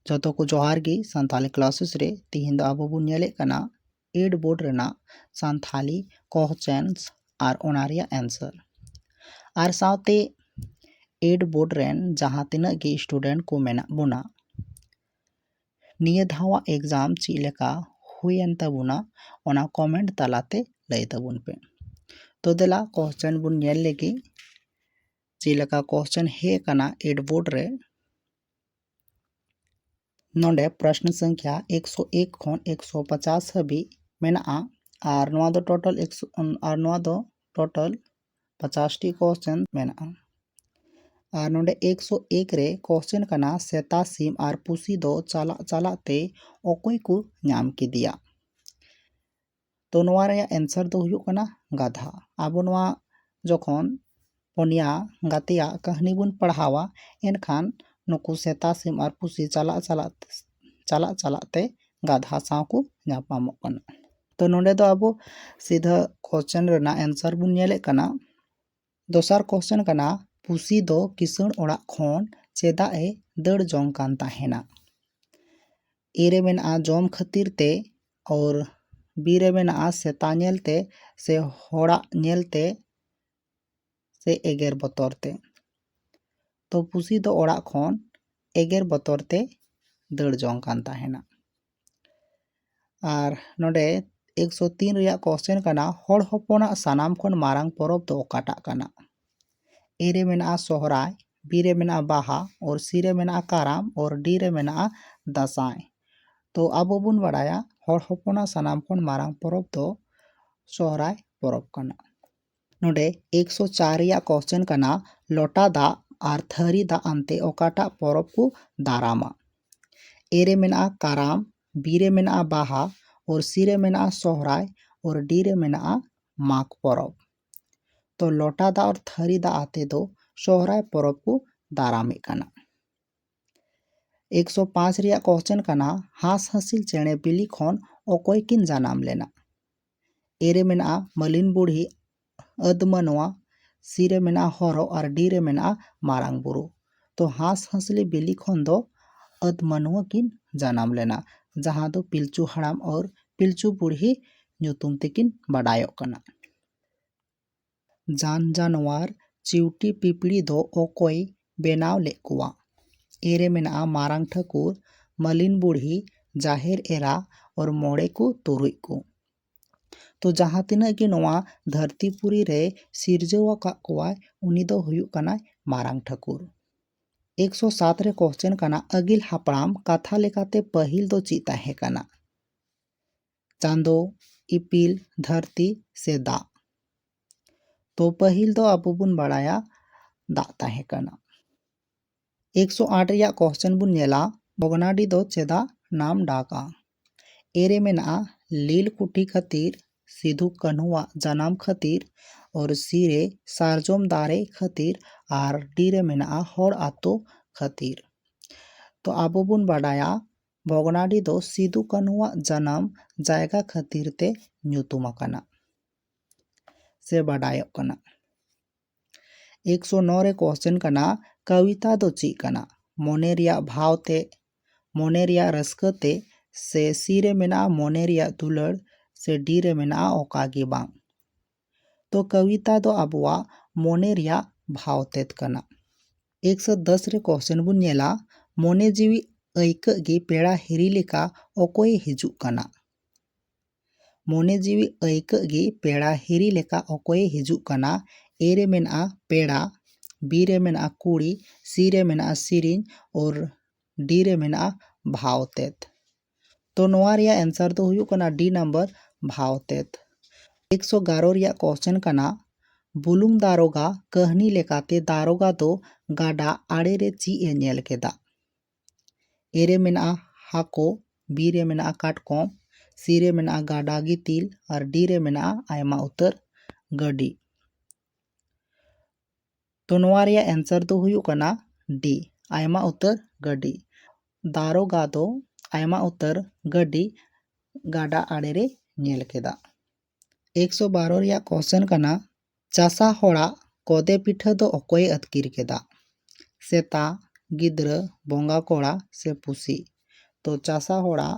ᱡᱚᱛᱚ ᱠᱚ ᱡᱚᱦᱟᱨ ᱜᱮ ᱥᱟᱱᱛᱟᱞᱤ ᱠᱞᱟᱥᱮᱥ ᱨᱮ ᱛᱤᱦᱤᱧ ᱫᱚ ᱟᱵᱚ ᱵᱚᱱ ᱧᱮᱞᱮᱫ ᱠᱟᱱᱟ ᱮᱰ ᱵᱳᱨᱰ ᱨᱮᱱᱟᱜ ᱥᱟᱱᱛᱟᱞᱤ ᱠᱚᱦᱪᱮᱱᱥ ᱟᱨ ᱚᱱᱟ ᱨᱮᱭᱟᱜ ᱮᱱᱥᱟᱨ ᱟᱨ ᱥᱟᱶᱛᱮ ᱮᱰ ᱵᱳᱨᱰ ᱨᱮᱱ ᱡᱟᱦᱟᱸ ᱛᱤᱱᱟᱹᱜ ᱜᱮ ᱥᱴᱩᱰᱮᱱᱴ ᱠᱚ ᱢᱮᱱᱟᱜ ᱵᱚᱱᱟ ᱱᱤᱭᱟᱹ ᱫᱷᱟᱣᱟᱜ ᱮᱠᱡᱟᱢ ᱪᱮᱫ ᱞᱮᱠᱟ ᱦᱩᱭᱮᱱ ᱛᱟᱵᱚᱱᱟ ᱚᱱᱟ ᱠᱚᱢᱮᱱᱴ ᱛᱟᱞᱟᱛᱮ ᱞᱟᱹᱭ ᱛᱟᱵᱚᱱ ᱯᱮ ᱛᱚ ᱫᱮᱞᱟ ᱠᱚᱥᱪᱮᱱ ᱵᱚᱱ ᱧᱮᱞ ᱞᱮᱜᱮ ᱪᱮᱫ ᱞᱮᱠᱟ ᱠᱚᱥᱪᱮᱱ ᱦᱮᱡ ᱟᱠᱟᱱᱟ ᱮᱰ ᱵᱳᱨᱰ ᱨᱮ ᱱᱚᱰᱮ ᱯᱨᱚᱥᱱ ᱥᱚᱝᱠᱷᱟ ᱮᱠᱥᱚ ᱮᱠ ᱠᱷᱚᱱ ᱮᱠᱥᱚ ᱯᱚᱪᱟᱥ ᱦᱟᱹᱵᱤᱡ ᱢᱮᱱᱟᱜᱼᱟ ᱟᱨ ᱱᱚᱣᱟ ᱫᱚ ᱴᱳᱴᱟᱞ ᱮᱠᱥᱚ ᱟᱨ ᱱᱚᱣᱟ ᱫᱚ ᱴᱳᱴᱟᱞ ᱯᱚᱪᱟᱥᱴᱤ ᱠᱚᱥᱪᱮᱱ ᱢᱮᱱᱟᱜᱼᱟ ᱟᱨ ᱱᱚᱰᱮ ᱮᱠᱥᱚ ᱮᱠ ᱨᱮ ᱠᱚᱥᱪᱮᱱ ᱠᱟᱱᱟ ᱥᱮᱛᱟ ᱥᱤᱢ ᱟᱨ ᱯᱩᱥᱤ ᱫᱚ ᱪᱟᱞᱟᱜ ᱪᱟᱞᱟᱜ ᱛᱮ ᱚᱠᱚᱭ ᱠᱚ ᱧᱟᱢ ᱠᱮᱫᱮᱭᱟ ᱛᱚ ᱱᱚᱣᱟ ᱨᱮᱭᱟᱜ ᱮᱱᱥᱟᱨ ᱫᱚ ᱦᱩᱭᱩᱜ ᱠᱟᱱᱟ ᱜᱟᱫᱷᱟ ᱟᱵᱚ ᱱᱚᱣᱟ ᱡᱚᱠᱷᱚᱱ ᱯᱚᱱᱭᱟ ᱜᱟᱛᱮᱭᱟᱜ ᱠᱟᱹᱦᱱᱤ ᱵᱚᱱ ᱯᱟᱲᱦᱟᱣᱟ ᱮᱱᱠᱷᱟᱱ ᱱᱩᱠᱩ ᱥᱮᱛᱟ ᱥᱤᱢ ᱟᱨ ᱯᱩᱥᱤ ᱪᱟᱞᱟᱜ ᱪᱟᱞᱟᱜ ᱪᱟᱞᱟᱜ ᱪᱟᱞᱟᱜ ᱛᱮ ᱜᱟᱫᱷᱟ ᱥᱟᱶ ᱠᱚ ᱧᱟᱯᱟᱢᱚᱜ ᱠᱟᱱᱟ ᱛᱚ ᱱᱚᱸᱰᱮ ᱫᱚ ᱟᱵᱚ ᱥᱤᱫᱷᱟᱹ ᱠᱚᱥᱪᱮᱱ ᱨᱮᱱᱟᱜ ᱮᱱᱥᱟᱨ ᱵᱚᱱ ᱧᱮᱞᱮᱫ ᱠᱟᱱᱟ ᱫᱚᱥᱟᱨ ᱠᱚᱥᱪᱮᱱ ᱠᱟᱱᱟ ᱯᱩᱥᱤ ᱫᱚ ᱠᱤᱥᱟᱹᱬ ᱚᱲᱟᱜ ᱠᱷᱚᱱ ᱪᱮᱫᱟᱜ ᱮ ᱫᱟᱹᱲ ᱡᱚᱝ ᱠᱟᱱ ᱛᱟᱦᱮᱱᱟ ᱮ ᱨᱮ ᱢᱮᱱᱟᱜᱼᱟ ᱡᱚᱢ ᱠᱷᱟᱹᱛᱤᱨ ᱛᱮ ᱚᱨ ᱵᱤ ᱨᱮ ᱢᱮᱱᱟᱜᱼᱟ ᱥᱮᱛᱟ ᱧᱮᱞᱛᱮ ᱥᱮ ᱦᱚᱲᱟᱜ ᱧᱮᱞᱛᱮ ᱥᱮ ᱮᱜᱮᱨ ᱵᱚᱛᱚᱨ ᱛᱮ᱾ ᱛᱚ ᱯᱩᱥᱤ ᱫᱚ ᱚᱲᱟᱜ ᱠᱷᱚᱱ ᱮᱜᱮᱨ ᱵᱚᱛᱚᱨ ᱛᱮᱭ ᱫᱟᱹᱲ ᱡᱚᱝ ᱠᱟᱱ ᱛᱟᱦᱮᱱᱟ᱾ ᱟᱨ ᱱᱚᱸᱰᱮ ᱮᱠ ᱥᱚ ᱛᱤᱱ ᱨᱮᱭᱟᱜ ᱠᱚᱥᱪᱮᱱ ᱠᱟᱱᱟ ᱦᱚᱲ ᱦᱚᱯᱚᱱᱟᱜ ᱥᱟᱱᱟᱢ ᱠᱷᱚᱱ ᱢᱟᱨᱟᱝ ᱯᱚᱨᱚᱵᱽ ᱫᱚ ᱚᱠᱟᱴᱟᱜ ᱠᱟᱱᱟ? ᱮ ᱨᱮ ᱢᱮᱱᱟᱜᱼᱟ ᱥᱚᱦᱨᱟᱭ, ᱵᱤ ᱨᱮ ᱢᱮᱱᱟᱜᱼᱟ ᱵᱟᱦᱟ ᱚᱨ ᱥᱤ ᱨᱮ ᱢᱮᱱᱟᱜᱼᱟ ᱠᱟᱨᱟᱢ ᱚᱨ ᱰᱤ ᱨᱮ ᱢᱮᱱᱟᱜᱼᱟ ᱫᱟᱸᱥᱟᱭ᱾ ᱛᱚ ᱟᱵᱚ ᱵᱚᱱ ᱵᱟᱲᱟᱭᱟ ᱦᱚᱲ ᱦᱚᱯᱚᱱᱟᱜ ᱥᱟᱱᱟᱢ ᱠᱷᱚᱱ ᱢᱟᱨᱟᱝ ᱯᱚᱨᱚᱵᱽ ᱫᱚ ᱥᱚᱦᱨᱟᱭ ᱯᱚᱨᱚᱵᱽ ᱠᱟᱱᱟ᱾ ᱱᱚᱸᱰᱮ ᱮᱠᱥᱚ ᱪᱟᱨ ᱨᱮᱭᱟᱜ ᱠᱚᱥᱪᱮᱱ ᱠᱟᱱᱟ ᱞᱚᱴᱟ ᱫᱟᱜ ᱟᱨ ᱛᱷᱟᱹᱨᱤ ᱫᱟᱜ ᱟᱱᱛᱮ ᱚᱠᱟᱴᱟᱜ ᱯᱚᱨᱚᱵᱽ ᱠᱚ ᱫᱟᱨᱟᱢᱟ ᱮ ᱨᱮ ᱢᱮᱱᱟᱜᱼᱟ ᱠᱟᱨᱟᱢ ᱵᱤ ᱨᱮ ᱢᱮᱱᱟᱜᱼᱟ ᱵᱟᱦᱟ ᱚᱨ ᱥᱤ ᱨᱮ ᱢᱮᱱᱟᱜᱼᱟ ᱥᱚᱦᱨᱟᱭ ᱚᱨ ᱰᱤ ᱨᱮ ᱢᱮᱱᱟᱜᱼᱟ ᱢᱟᱜᱽ ᱯᱚᱨᱚᱵᱽ ᱛᱚ ᱞᱚᱴᱟ ᱫᱟᱜ ᱟᱨ ᱛᱷᱟᱹᱨᱤ ᱫᱟᱜ ᱟᱛᱮ ᱫᱚ ᱥᱚᱦᱨᱟᱭ ᱯᱚᱨᱚᱵᱽ ᱠᱚ ᱫᱟᱨᱟᱢᱮᱫ ᱠᱟᱱᱟ ᱮᱠᱥᱚ ᱯᱟᱸᱪ ᱨᱮᱭᱟᱜ ᱠᱚᱥᱪᱮᱱ ᱠᱟᱱᱟ ᱦᱟᱸᱥ ᱦᱟᱸᱥᱤᱞ ᱪᱮᱬᱮ ᱵᱤᱞᱤ ᱠᱷᱚᱱ ᱚᱠᱚᱭ ᱠᱤᱱ ᱡᱟᱱᱟᱢ ᱞᱮᱱᱟ ᱮ ᱨᱮ ᱢᱮᱱᱟᱜᱼᱟ ᱢᱟᱹᱞᱤᱱ ᱵᱩᱲᱦᱤ ᱟᱹᱫᱽ ᱢᱟᱱᱣᱟ ᱥᱤ ᱨᱮ ᱢᱮᱱᱟᱜᱼᱟ ᱦᱚᱨᱚ ᱟᱨ ᱰᱤ ᱨᱮ ᱢᱮᱱᱟᱜᱼᱟ ᱢᱟᱨᱟᱝ ᱵᱩᱨᱩ ᱛᱚ ᱦᱟᱸᱥ ᱦᱟᱸᱥᱞᱤ ᱵᱤᱞᱤ ᱠᱷᱚᱱ ᱫᱚ ᱟᱹᱫᱽ ᱢᱟᱱᱣᱟ ᱠᱤᱱ ᱡᱟᱱᱟᱢ ᱞᱮᱱᱟ ᱡᱟᱦᱟᱸ ᱫᱚ ᱯᱤᱞᱪᱩ ᱦᱟᱲᱟᱢ ᱟᱨ ᱯᱤᱞᱪᱩ ᱵᱩᱲᱦᱤ ᱧᱩᱛᱩᱢ ᱛᱮᱠᱤᱱ ᱵᱟᱰᱟᱭᱚᱜ ᱠᱟᱱᱟ ᱡᱟᱱ ᱡᱟᱱᱣᱟᱨ ᱪᱤᱣᱴᱤ ᱯᱤᱯᱲᱤ ᱫᱚ ᱚᱠᱚᱭ ᱵᱮᱱᱟᱣ ᱞᱮᱫ ᱠᱚᱣᱟ? ᱮ ᱨᱮ ᱢᱮᱱᱟᱜᱼᱟ ᱢᱟᱨᱟᱝ ᱴᱷᱟᱹᱠᱩᱨ, ᱢᱟᱹᱞᱤᱱ ᱵᱩᱲᱦᱤ, ᱡᱟᱦᱮᱨ ᱮᱨᱟ ᱟᱨ ᱢᱚᱬᱮ ᱠᱚ ᱛᱩᱨᱩᱡ ᱠᱚ᱾ ᱛᱚ ᱡᱟᱦᱟᱸ ᱛᱤᱱᱟᱹᱜ ᱜᱮ ᱱᱚᱣᱟ ᱫᱷᱟᱹᱨᱛᱤ ᱯᱩᱨᱤ ᱨᱮᱭ ᱥᱤᱨᱡᱟᱹᱣ ᱟᱠᱟᱫ ᱠᱚᱣᱟᱭ ᱩᱱᱤ ᱫᱚ ᱦᱩᱭᱩᱜ ᱠᱟᱱᱟᱭ ᱢᱟᱨᱟᱝ ᱴᱷᱟᱹᱠᱩᱨ᱾ ᱮᱠ ᱥᱚ ᱥᱟᱛ ᱨᱮ ᱠᱚᱥᱪᱮᱱ ᱠᱟᱱᱟ ᱟᱹᱜᱤᱞ ᱦᱟᱯᱲᱟᱢ ᱠᱟᱛᱷᱟ ᱞᱮᱠᱟᱛᱮ ᱯᱟᱹᱦᱤᱞ ᱫᱚ ᱪᱮᱫ ᱛᱟᱦᱮᱸ ᱠᱟᱱᱟ? ᱪᱟᱸᱫᱚ ᱤᱯᱤᱞ ᱫᱷᱟᱹᱨᱛᱤ ᱥᱮ ᱫᱟᱜ ᱛᱚ ᱯᱟᱹᱦᱤᱞ ᱫᱚ ᱟᱵᱚ ᱵᱚᱱ ᱵᱟᱲᱟᱭᱟ ᱫᱟᱜ ᱛᱟᱦᱮᱸ ᱠᱟᱱᱟ ᱮᱠᱥᱚ ᱟᱴ ᱨᱮᱭᱟᱜ ᱠᱚᱥᱪᱮᱱ ᱵᱚᱱ ᱧᱮᱞᱟ ᱵᱷᱚᱜᱽᱱᱟᱰᱤ ᱫᱚ ᱪᱮᱫᱟᱜ ᱱᱟᱢ ᱰᱟᱠᱟ ᱮᱨᱮ ᱢᱮᱱᱟᱜᱼᱟ ᱞᱤᱞ ᱠᱩᱴᱷᱤ ᱠᱷᱟᱹᱛᱤᱨ ᱥᱤᱫᱷᱩ ᱠᱟᱹᱱᱦᱩᱣᱟᱜ ᱡᱟᱱᱟᱢ ᱠᱷᱟᱹᱛᱤᱨ ᱚᱨ ᱥᱤ ᱨᱮ ᱥᱟᱨᱡᱚᱢ ᱫᱟᱨᱮ ᱠᱷᱟᱹᱛᱤᱨ ᱟᱨ ᱰᱤ ᱨᱮ ᱢᱮᱱᱟᱜᱼᱟ ᱦᱚᱲ ᱟᱛᱳ ᱠᱷᱟᱹᱛᱤᱨ ᱛᱚ ᱟᱵᱚ ᱵᱚᱱ ᱵᱟᱰᱟᱭᱟ ᱵᱷᱚᱜᱽᱱᱟᱰᱤ ᱫᱚ ᱥᱤᱫᱩ ᱠᱟᱹᱱᱦᱩ ᱟᱜ ᱡᱟᱱᱟᱢ ᱡᱟᱭᱜᱟ ᱠᱷᱟᱹᱛᱤᱨ ᱛᱮ ᱧᱩᱛᱩᱢ ᱟᱠᱟᱱᱟ ᱥᱮ ᱵᱟᱰᱟᱭᱚᱜ ᱠᱟᱱᱟ᱾ ᱮᱠ ᱥᱚ ᱱᱚ ᱨᱮ ᱠᱚᱥᱪᱮᱱ ᱠᱟᱱᱟ ᱠᱟᱣᱤᱛᱟ ᱫᱚ ᱪᱮᱫ ᱠᱟᱱᱟ? ᱢᱚᱱᱮ ᱨᱮᱭᱟᱜ ᱵᱷᱟᱣ ᱛᱮ, ᱢᱚᱱᱮ ᱨᱮᱭᱟᱜ ᱨᱟᱹᱥᱠᱟᱹ ᱛᱮ ᱥᱮ ᱥᱤ ᱨᱮ ᱢᱮᱱᱟᱜᱼᱟ ᱢᱚᱱᱮ ᱨᱮᱭᱟᱜ ᱫᱩᱞᱟᱹᱲ ᱥᱮ ᱰᱤ ᱨᱮ ᱢᱮᱱᱟᱜᱼᱟ ᱚᱠᱟ ᱜᱮ ᱵᱟᱝ᱾ ᱛᱚ ᱠᱟᱣᱤᱛᱟ ᱫᱚ ᱟᱵᱚᱣᱟᱜ ᱢᱚᱱᱮ ᱨᱮᱭᱟᱜ ᱵᱷᱟᱣ ᱛᱮᱫ ᱠᱟᱱᱟ᱾ ᱮᱠ ᱥᱚ ᱫᱚᱥ ᱨᱮ ᱠᱚᱥᱪᱮᱱ ᱵᱚᱱ ᱧᱮᱞᱟ, ᱢᱚᱱᱮ ᱡᱤᱣᱤ ᱟᱹᱭᱠᱟᱹᱜ ᱜᱮ ᱯᱮᱲᱟ ᱦᱤᱨᱤ ᱞᱮᱠᱟ ᱚᱠᱚᱭᱮ ᱦᱤᱡᱩᱜ ᱠᱟᱱᱟ? ᱢᱚᱱᱮ ᱡᱤᱣᱤ ᱟᱹᱭᱠᱟᱹᱜ ᱜᱮ ᱯᱮᱲᱟ ᱦᱤᱨᱤ ᱞᱮᱠᱟ ᱚᱠᱚᱭᱮ ᱦᱤᱡᱩᱜ ᱠᱟᱱᱟ? ᱮ ᱨᱮ ᱢᱮᱱᱟᱜᱼᱟ ᱯᱮᱲᱟ, ᱵᱤ ᱨᱮ ᱢᱮᱱᱟᱜᱼᱟ ᱠᱩᱲᱤ, ᱥᱤ ᱨᱮ ᱢᱮᱱᱟᱜᱼᱟ ᱥᱤᱨᱤᱧ ᱚᱨ ᱰᱤ ᱨᱮ ᱢᱮᱱᱟᱜᱼᱟ ᱵᱷᱟᱣ ᱛᱮᱫ᱾ ᱛᱚ ᱱᱚᱣᱟ ᱨᱮᱭᱟᱜ ᱮᱱᱥᱟᱨ ᱫᱚ ᱦᱩᱭᱩᱜ ᱠᱟᱱᱟ ᱰᱤ ᱱᱟᱢᱵᱟᱨ ᱵᱷᱟᱣᱛᱮᱛ ᱮᱠᱥᱚ ᱜᱟᱨᱚ ᱨᱮᱭᱟᱜ ᱠᱚᱥᱪᱮᱱ ᱠᱟᱱᱟ ᱵᱩᱞᱩᱝ ᱫᱟᱨᱚᱜᱟ ᱠᱟᱹᱦᱱᱤ ᱞᱮᱠᱟᱛᱮ ᱫᱟᱨᱚᱜᱟ ᱫᱚ ᱜᱟᱰᱟ ᱟᱲᱮ ᱨᱮ ᱪᱮᱫ ᱮ ᱧᱮᱞ ᱠᱮᱫᱟ ᱮ ᱨᱮ ᱢᱮᱱᱟᱜᱼᱟ ᱦᱟᱹᱠᱩ ᱵᱤ ᱨᱮ ᱢᱮᱱᱟᱜᱼᱟ ᱠᱟᱴᱠᱚᱢ ᱥᱤ ᱨᱮ ᱢᱮᱱᱟᱜᱼᱟ ᱜᱟᱰᱟ ᱜᱤᱛᱤᱞ ᱟᱨ ᱰᱤ ᱨᱮ ᱢᱮᱱᱟᱜᱼᱟ ᱟᱭᱢᱟ ᱩᱛᱟᱹᱨ ᱜᱟᱹᱰᱤ ᱛᱚ ᱱᱚᱣᱟ ᱨᱮᱭᱟᱜ ᱮᱱᱥᱟᱨ ᱫᱚ ᱦᱩᱭᱩᱜ ᱠᱟᱱᱟ ᱰᱤ ᱟᱭᱢᱟ ᱩᱛᱟᱹᱨ ᱜᱟᱹᱰᱤ ᱫᱟᱨᱚᱜᱟ ᱫᱚ ᱟᱭᱢᱟ ᱩᱛᱟᱹᱨ ᱜᱟᱹᱰᱤ ᱜᱟᱰᱟ ᱟᱲᱮ ᱨᱮ ᱧᱮᱞ ᱠᱮᱫᱟ ᱮᱠᱥᱚ ᱵᱟᱨᱚ ᱨᱮᱭᱟᱜ ᱠᱚᱥᱪᱮᱱ ᱠᱟᱱᱟ ᱪᱟᱥᱟ ᱦᱚᱲᱟᱜ ᱠᱚᱫᱮ ᱯᱤᱴᱷᱟᱹ ᱫᱚ ᱚᱠᱚᱭᱮ ᱟᱹᱛᱠᱤᱨ ᱠᱮᱫᱟ ᱥᱮᱛᱟ ᱜᱤᱫᱽᱨᱟᱹ ᱵᱚᱸᱜᱟ ᱠᱚᱲᱟ ᱥᱮ ᱯᱩᱥᱤ ᱛᱚ ᱪᱟᱥᱟ ᱦᱚᱲᱟᱜ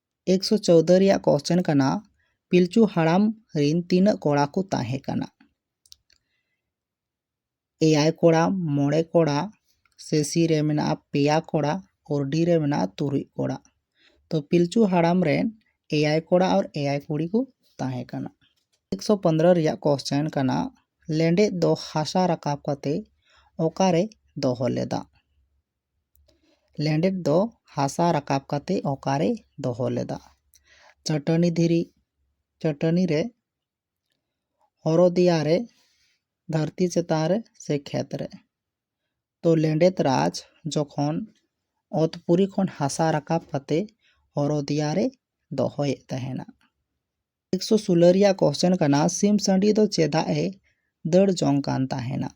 ᱮᱠᱥᱚ ᱪᱳᱣᱫᱚ ᱨᱮᱭᱟᱜ ᱠᱚᱥᱪᱮᱱ ᱠᱟᱱᱟ ᱯᱤᱞᱪᱩ ᱦᱟᱲᱟᱢ ᱨᱤᱱ ᱛᱤᱱᱟᱹᱜ ᱠᱚᱲᱟ ᱠᱚ ᱛᱟᱦᱮᱸ ᱠᱟᱱᱟ ᱮᱭᱟᱭ ᱠᱚᱲᱟ ᱢᱚᱬᱮ ᱠᱚᱲᱟ ᱥᱮᱥᱤ ᱨᱮ ᱢᱮᱱᱟᱜᱼᱟ ᱯᱮᱭᱟ ᱠᱚᱲᱟ ᱚᱨᱰᱤ ᱨᱮ ᱢᱮᱱᱟᱜᱼᱟ ᱛᱩᱨᱩᱡ ᱠᱚᱲᱟ ᱛᱚ ᱯᱤᱞᱪᱩ ᱦᱟᱲᱟᱢ ᱨᱮᱱ ᱮᱭᱟᱭ ᱠᱚᱲᱟ ᱟᱨ ᱮᱭᱟᱭ ᱠᱩᱲᱤ ᱠᱚ ᱛᱟᱦᱮᱸ ᱠᱟᱱᱟ ᱮᱠᱥᱚ ᱯᱚᱱᱫᱽᱨᱚ ᱨᱮᱭᱟᱜ ᱠᱚᱥᱪᱮᱱ ᱠᱟᱱᱟ ᱞᱮᱸᱰᱮᱫ ᱫᱚ ᱦᱟᱥᱟ ᱨᱟᱠᱟᱵ ᱠᱟᱛᱮ ᱚᱠᱟᱨᱮ ᱫᱚᱦᱚ ᱞᱮᱫᱟ ᱞᱮᱸᱰᱮᱫ ᱫᱚ ᱦᱟᱥᱟ ᱨᱟᱠᱟᱵ ᱠᱟᱛᱮ ᱚᱠᱟᱨᱮᱭ ᱫᱚᱦᱚ ᱞᱮᱫᱟ ᱪᱟᱹᱴᱟᱹᱱᱤ ᱫᱷᱤᱨᱤ ᱪᱟᱹᱴᱟᱹᱱᱤ ᱨᱮ ᱦᱚᱨᱚᱫᱤᱭᱟ ᱨᱮ ᱫᱷᱟᱹᱨᱛᱤ ᱪᱮᱛᱟᱱ ᱨᱮ ᱥᱮ ᱠᱷᱮᱛ ᱨᱮ ᱛᱚ ᱞᱮᱸᱰᱮᱫ ᱨᱟᱡᱽ ᱡᱚᱠᱷᱚᱱ ᱚᱛ ᱯᱩᱨᱤ ᱠᱷᱚᱱ ᱦᱟᱥᱟ ᱨᱟᱠᱟᱵ ᱠᱟᱛᱮ ᱦᱚᱨᱚᱫᱤᱭᱟ ᱨᱮᱭ ᱫᱚᱦᱚᱭᱮᱫ ᱛᱟᱦᱮᱱᱟ ᱮᱠᱥᱚ ᱥᱳᱞᱳ ᱨᱮᱭᱟᱜ ᱠᱚᱥᱪᱮᱱ ᱠᱟᱱᱟ ᱥᱤᱢ ᱥᱟᱺᱰᱤ ᱫᱚ ᱪᱮᱫᱟᱜ ᱮ ᱫᱟᱹᱲ ᱡᱚᱝ ᱠᱟᱱ ᱛᱟᱦᱮᱱᱟ